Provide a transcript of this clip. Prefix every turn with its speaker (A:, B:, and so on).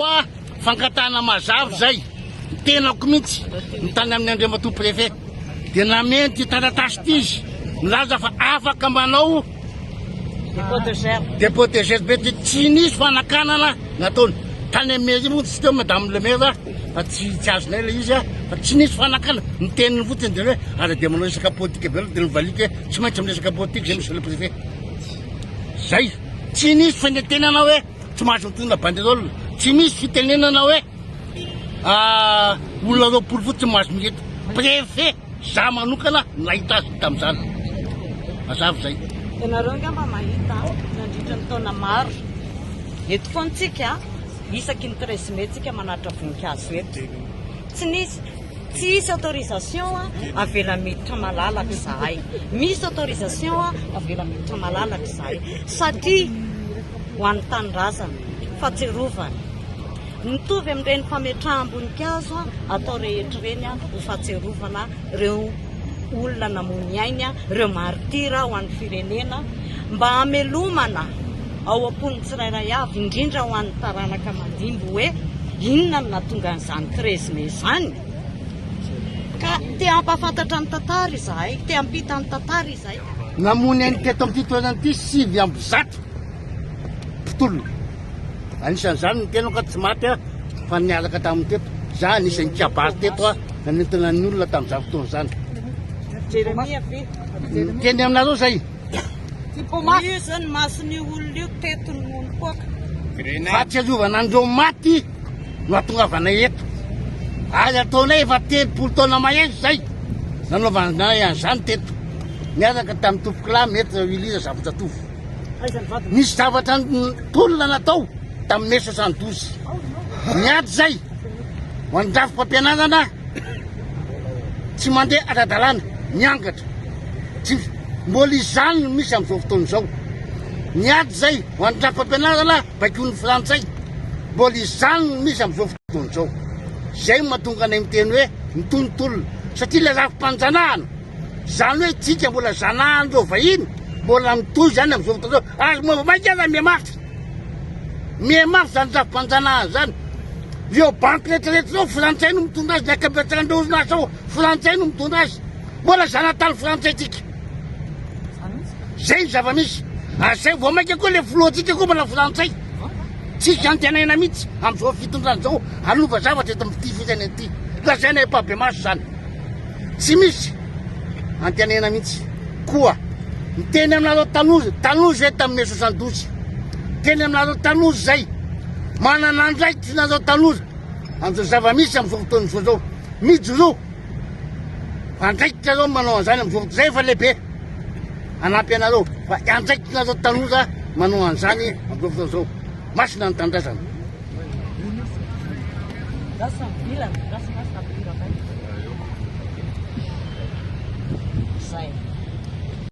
A: Fa fangatahana mazava izay, ny tenako mihitsy no tany amin'ny Andriamatoa Préfet dia nameno ity taratasy ity izy nilaza fa afaka manao Dépôt de gerbe. dépôt de gerbe dia tsy nisy fanakanana nataony. Tany amin'ny mairie moa tsy teo Madame le Maire fa tsy tsy azonay ilay izy fa tsy nisy fanakanana. Ny teniny fotsiny dia hoe ary dia manao resaka politika be loatra dia novaliako hoe tsy maintsy miresaka politika izay Monsieur le Préfet. Zay, tsy nisy fanentenana hoe. Tsy mahazo mitondra banderole, tsy misy fitenenana hoe olona roapolo fotsiny mahazo mileto. Préfet za manokana nahita azy tamin'izany. Mazava izay. Ianareo angamba
B: mahita nandritra ny taona maro. Eto foana tsika isaky ny 13 mai tsika manatra voninkazo eto. Tsy nisy tsy hisy autorisation avela miditra malalaka izahay. Misy autorisation avela miditra malalaka izahay satria ho an'ny tanindrazana, fahatsiarovana. Mitovy amin'ireny fametraham-boninkazo atao rehetra ireny ho fahatsiarovana ireo olona namoy ny ainy, ireo martyrs ho an'ny firenena, mba hamelomana ao am-pon'ny tsirairay avy, indrindra ho an'ny taranaka mandimby hoe inona no nahatonga an'izany treize mai izany. Ka te hampahafantatra ny tantara izahay, te hampita ny tantara izahay. Namono eny teto
A: amin'ity toerana ity sivy amby zato mpitolona. Anisan'izany ny tenako tsy maty aho fa niaraka tamin'ny teto. Za anisan'ny kabary teto aho nanentana ny olona tamin'izany fotoana izany.
B: Teny aminareo
A: zay. Io
B: zany mason'io olona io teto ny monopôka. Fahatsiarovana
A: an'ireo maty. no atongavanay eto. Ary ataonay efa telopolo taona mahery izay nanaovanay an'izany teto. Niaraka tamin'ny tompokolahy Maître Willy Razafijatovo. Nisy zavatra tolona natao tamin'ny mai soixante douze. Niady izay ho an'ny rafi-pampianarana tsy mandeha ara-dalàna, miangatra. Tsy mbola izany no misy amin'izao fotoana izao. Niady izay ho an'ny rafi-pampianarana baikoin'ny frantsay, mbola izany no misy amin'izao fotoana izao. Izay no mahatonga anay miteny hoe mitonontolona, satria ilay lafim-panjanahana, izany hoe isika mbola zanahan'ireo vahiny, mbola mitohy izany amin'izao fotoana izao. Ary moa vao mainka aza mihamafy, mihamafy izany lafim-panjanahana izany. Ireo banky rehetrarehetra izao frantsay no mitondra azy, ny ankabetsahan'ireo orinasa ao frantsay no mitondra azy. Mbola zanatany frantsay isika. Zay ny zava-misy. Ary zay vao maika koa le filohantsika koa manao frantsay. Tsisy iantenaina mihitsy amin'izao fitondrana izao hanova zavatra eto amin'ity firenena ity. Lazaina efa-bemaso izany. Tsy misy antenaina mihitsy. Koa miteny aminareo tanoza, tanoza hoe tamin'ny mai soixante-douze. Teny aminareo tanoza izay. Manana andraikitra ianareo tanoza amin'izao zava-misy amin'izao fotoana izao izao. Mijoroa. Andraikitra aloha manao an'izany amin'izao fotoana izay efa lehibe hanampy anareo fa andraikitrareo tanora manao an'izany amin'izao fotoana izao. Masina ny tanindrazana.
B: Zay.